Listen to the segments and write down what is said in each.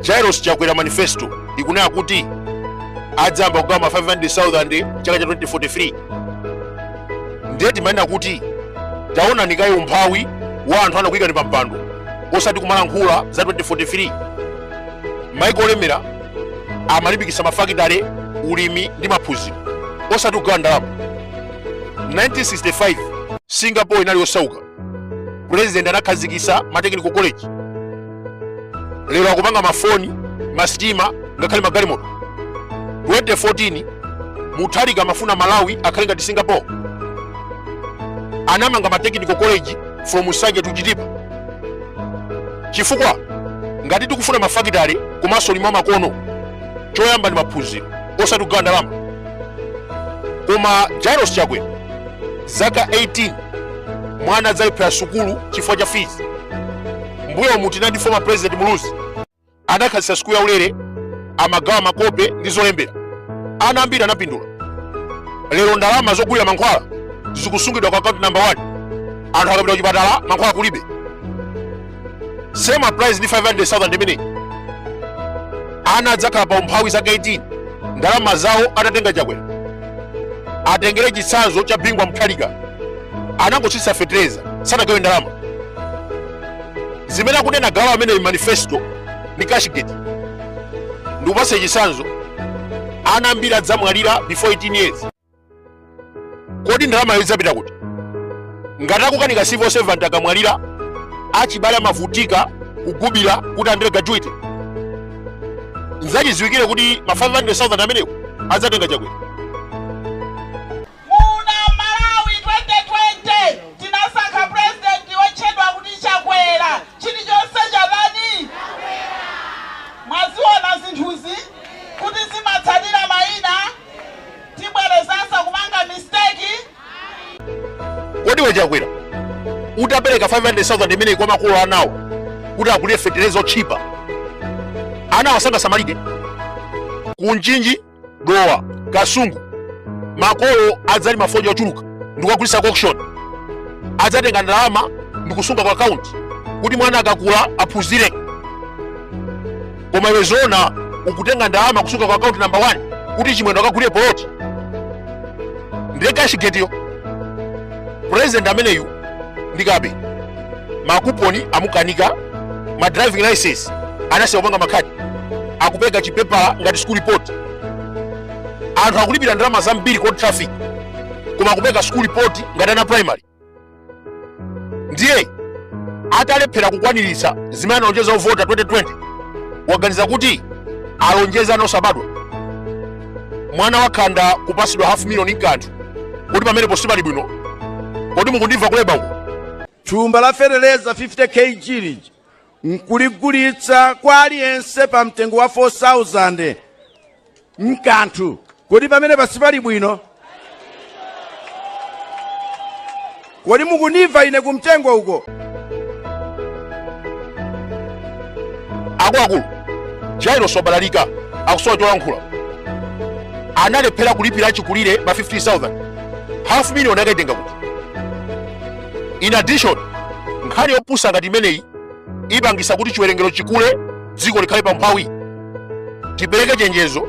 jairos chakwera manifesto ikunena kuti adzayamba kugawa ma 500000 chaka cha 2043 ndiye timanena kuti taonani kaye umphawi wa anthu anakuyikani pa mpando osati kumalankhula za 2043 maiko olemera amalimbikitsa mafakitale ulimi ndi maphunziro osati kugawa ndalama 1965 singapore inali yosauka president anakhazikitsa matekniko college lero akupanga mafoni masitima ngakhale magalimoto 2014 mutharika amafuna malawi akhale ngati singapore anamanga matechnical college from nsanje to chitipa chifukwa ngati tikufuna mafakitale komanso ulimi wamakono choyamba ndi maphunziro osati kugawa ndalama koma jairos chakwera zaka 18 mwana adzalephera sukulu chifukwa cha fees mbuyomu tinali ndi former president muluzi anakhazikitsa sukulu ya ulere amagawa makope ndi zolembera ana ambiri anapindula lero ndalama zogulira mankhwala zikusungidwa ku akaunti namba 1 anthu akapita kuchipatala mankhwala kulibe same applies ndi 500,000 imeneyi ana adzakhala pa umphawi zaka 18 ndalama zawo atatenga chakwera atengere chitsanzo cha bingu wa mutharika anangotsitsa fetereza sanagawe ndalama zimene akunena kugawa ameneyi manifesto ndi cashgate ndikupatse chitsanzo ana ambiri adzamwalira before 18 years kodi ndalamayo idzapita kuti ngati akukanika civil servant akamwalira achibale amavutika kugubira kuti alandire gratuity nzachiziwikire kuti ma 500000 amenewo adzatenga chakwera Muno Malawi 2020 tinasankha president wotchedwa kuti Chakwera chilichonse chatani mwaziona zinthuzi kuti zimatsatira mayina Tibwerezanso kupanga mistake? Ayi. Kodi iwe Chakwera utapereka 500,000 imeneyi kwa makolo anawo kuti agulire fetereza otchipa anawo sangasamalike ku mchinji dowa kasungu makolo adzalima fodya ochuluka ndikukagulitsa ku auction adzatenga ndalama ndikusunga ku akaunti kuti mwana akakula aphunzire koma iwe zoona ukutenga ndalama kusunga ku account number 1 kuti chimwendo akagulire poloti ndiye cash gateyo president ameneyu ndi kape makuponi amukanika ma driving license anasiya kupanga makhadi akupereka chipepala ngati school report anthu akulipira ndalama zambiri ku traffic koma akupereka school report ngati ana primary ndiye atalephera kukwaniritsa zimene analonjeza ovota 2020 waganiza kuti alonjeze ana osabadwa mwana wakhanda kupasidwa half million mukathu kuti pamenepa sipali bwino kodi mukundimva kuleba uko thumba la feteleza 50 kg lija nkuligulitsa kwa aliyense pa mtengo wa 4000 mukathu kodi pamenepa sipali bwino kodi mukundimva ine kumtengo uko akuluakulu jairos wabalalika akusowa cholankhula analephera kulipira achikulire ma 15000 half million akaitenga kuti in addition nkhani yopusa ngati imeneyi ipangisa kuti chiwerengero chikule dziko likhale pa umphawi tipereke chenjezo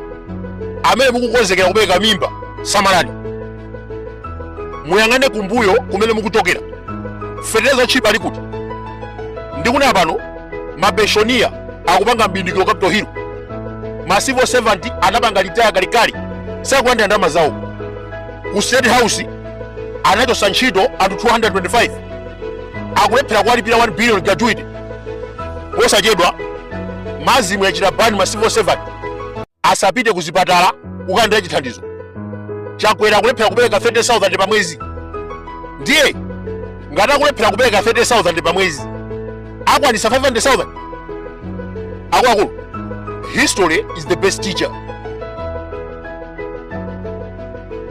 amene mukukonzekera kupereka mimba samalani muyang'ane kumbuyo kumene mukuchokera fetereza wotchipa ali kuti ndikunena pano mapenshoniya akupanga mbindikiro capital hill ma civil servant anapanga retire kalikali sakulandira ndalama zawo ku state house anachotsa ntchito anthu 225 akulephera kuwalipira 1 billion gratuity posachedwa masm yachita bani ma civil servant asapite ku zipatala kukalandira chithandizo chakwera akulephera kupereka 30000 pa mwezi ndiye ngati akulephera kupereka 30000 pa mwezi akwanisa 500000 akuluakulu history is the best teacher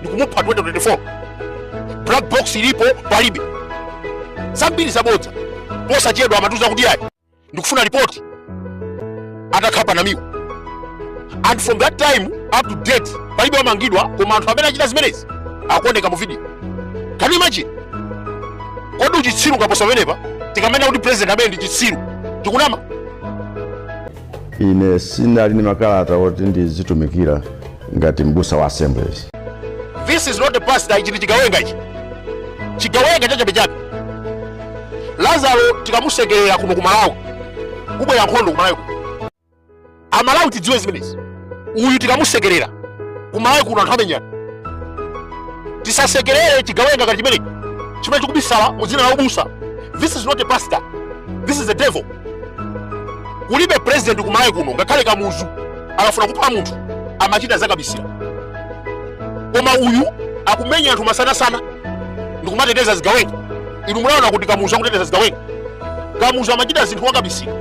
ndikumupha 2024 black box ilipo palibe zambiri zabodza posachedwa amatiuza kuti ayi ndikufuna ripoti atakhapa namiwa and from that time up to date palibe wamangidwa koma anthu amene achita zimenezi akuoneka mu video can you imagine kodi uchitsiru ungapose pamenepa tikamanena kuti president ameneyu ndi chitsiru tikunama ine si ine ndili ndi makalata oti ndizitumikira ngati m'busa wa assemblies this is not a pastor ichi ndi chigawenga ichi chigawenga chachabechabe lazaro tikamusekerera kuno ku malawi kubwera nkhondo ku malawi kuno. amalawi tidziwe zimenezi uyu tikamusekerera kumalawi kuno anthu amenyana tisasekerere chigawenga ngati chimenechi chimene chikubisala mu dzina la ubusa this is not a pastor this is a devil kulibe president kumalawi kuno ngakhale kamuzu akafuna kupha munthu amachita zakabisira koma uyu akumenya anthu masanasana ndikumateteza zigawenga inu munaona kuti kamuzu akuteteza zigawenga kamuzu amachita zinthu mwakabisira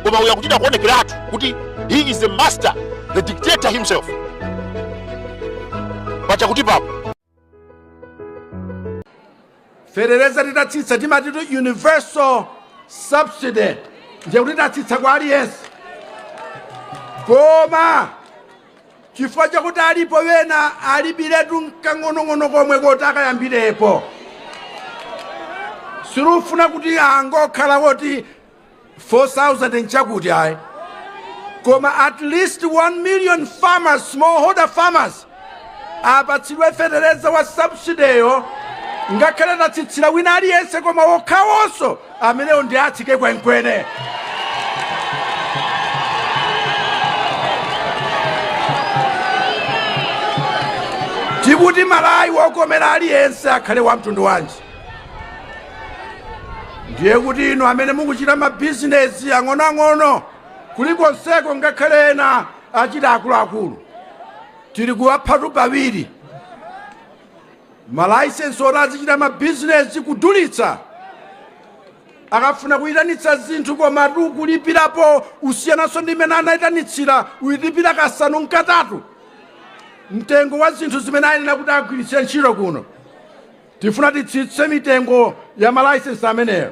koma uyu akuchita kuonekeratu kuti He is the master, the dictator himself. Pachakuti papo. Fetereza titatsitsa timati universal subsidy ndiye kuti tatsitsa kwa aliyense koma chifukwa chakuti alipo ena alibiretu nkang'onong'ono komwe koti akayambirepo sitifuna kuti angokhala woti 4000 nchakuti ayi koma at least 1 million farmers smallholder farmers apatsidwe fetereza wa subsidy ngakhale tatsitsira wina aliyense koma okhawonso amenewo ndi atsike kwenikweni tikuti Malawi wokomera aliyense akhale wa mtundu wanji ndiye kuti inu amene mukuchita mabizinesi ang'onoang'ono kulikonseko ngakhale ena achita akuluakulu tili kuwaphatu pawiri malaisensi oti azichita mabizinesi kudulitsa akafuna kuyitanitsa zinthu koma kulipirapo kusiyananso ndi imene anayitanitsira uyilipira kasanu nkatatu mtengo wa zinthu zimene ayenera kuti agwiritse ntchito kuno tifuna titsitse mitengo ya malayisensi amenewo